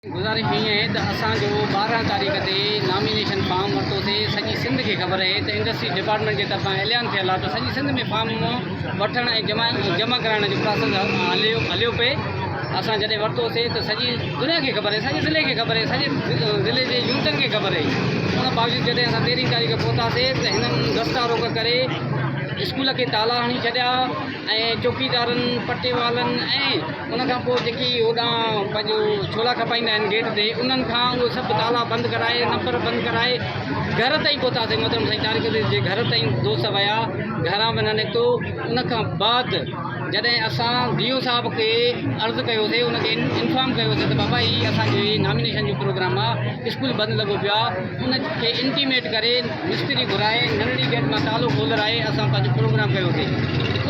گذارش ائين آهي ته اسان جو ٻارهن تاريخ تي نامينيشن فارم ورتو ٿي سڄي سنڌ کي خبر اهي ته انڊسٽريز ڊپارٽمينٽ جي طرفان اعلان ٿيل آهي ته سڄي سنڌ ۾ فارم وٺڻ ۽ جمع ڪرائڻ جو پراسيس هليو پئي اسان جڏهن ورتو سي ته سڄي دنيا کي خبر اهي سڄي ضلعي کي خبر اهي سڄي ضلعي جي يونٽن کي خبر اهي ان باوجود جڏهن اسان تيرهين تاريخ پهتاسي ته هنن دستا روڪ ڪري اسڪول کي تالا هڻي ڇڏيا ۽ چوڪيدارن پٽي والن ۽ ان کان پوء جيڪي هوڏانهن پنهنجو ڇولا کپائيندا آهن گيٽ تي، انهن کان اهي سڀ تالا بند ڪرائي، نمبر بند ڪرائي، گهر تائين پهتاسين. محترم سائين طارق عزيز جي گهر تائين دوست ويا، گهران به نه نڪتو. ان کان بعد جڏهن اسان ڊي او صاحب کي عرض ڪيوسين، ان کي انفارم ڪيوسين ته بابا هي اسان جي نامينيشن جو پروگرام آهي، اسڪول بند لڳو پيو آهي، ان کي انٽيميٽ ڪري مستري گهرائي ننڍڙي گيٽ مان تالو کولرائي اسان پنهنجو پروگرام ڪيو سي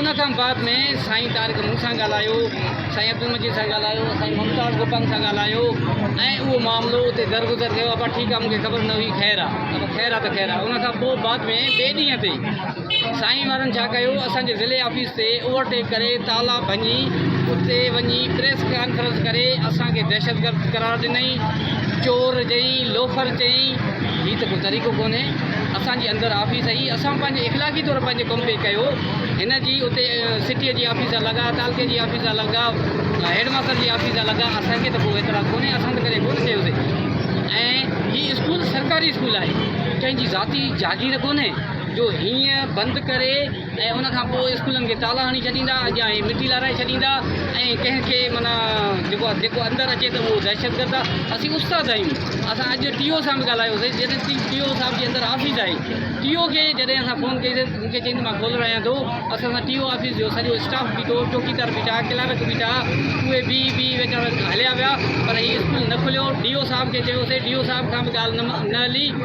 ان کان بعد ۾ سائين طارق مون سان ڳالهايو سائين عبدالمجيد سان ڳالهايو سائين ممتاز گوپانگ سان ڳالهايو ۽ اهو معاملو اتي درگذر ٿيو ابا ٺيڪ آ مون کي خبر نه هئي خير آ خير آ ته خير آ ان کان پوء بعد ۾ ٻئي ڏينهن تي سائين وارن ڇا ڪيو اسان جي ضلعي آفيس تي اوور ٽيڪ ڪري تالا ڀڃي اتي وڃي پريس ڪانفرنس ڪري اسان کي دهشتگرد قرار ڏنئي چور جئي لوفر چئي هي ته ڪو طريقو ڪونهي اسان جي اندر آفيس اهي اسان پنهنجي اخلاقي طور پنهنجو ڪم پي ڪيو هن جي اتي سٽي جي آفيس جا لڳا تعلقي جي آفيس جا لڳا هيڊ ماستر جي آفيس جا لڳا اسان کي ته ڪو اعتراض ڪونهي اسان ته ڪڏهن ڪونه چيوسي ۽ هي اسڪول سرڪاري اسڪول آهي ڪنهن جي ذاتي جاگير ڪونهي جو هينئن بند ڪري ۽ ان کان پوء اسڪولن کي تالا هڻي ڇڏيندا، اڳيان هي مٽي لارائي ڇڏيندا ۽ ڪنهن کي معنيٰ جيڪو جيڪو اندر اچي ته اهو دهشتگرد آ، اسين استاد آهيون، اسان اڄ ٽي او سان به ڳالهايو سين، جڏهن ٽي ٽي او صاحب جي اندر آفيس آهي، ٽي او کي جڏهن اسان فون ڪئي سين ته مون کي چيائين ته مان کولرايان ٿو، اسان سان ٽي او آفيس جو سڄو اسٽاف بيٺو، چوڪيدار بيٺا، ڪلارڪ بيٺا، اهي بيهي بيهي ويچارا هليا ويا پر هي اسڪول نه کليو، ڊي او صاحب کي چيو سين، ڊي او صاحب کان به ڳالهه نه نه هلي.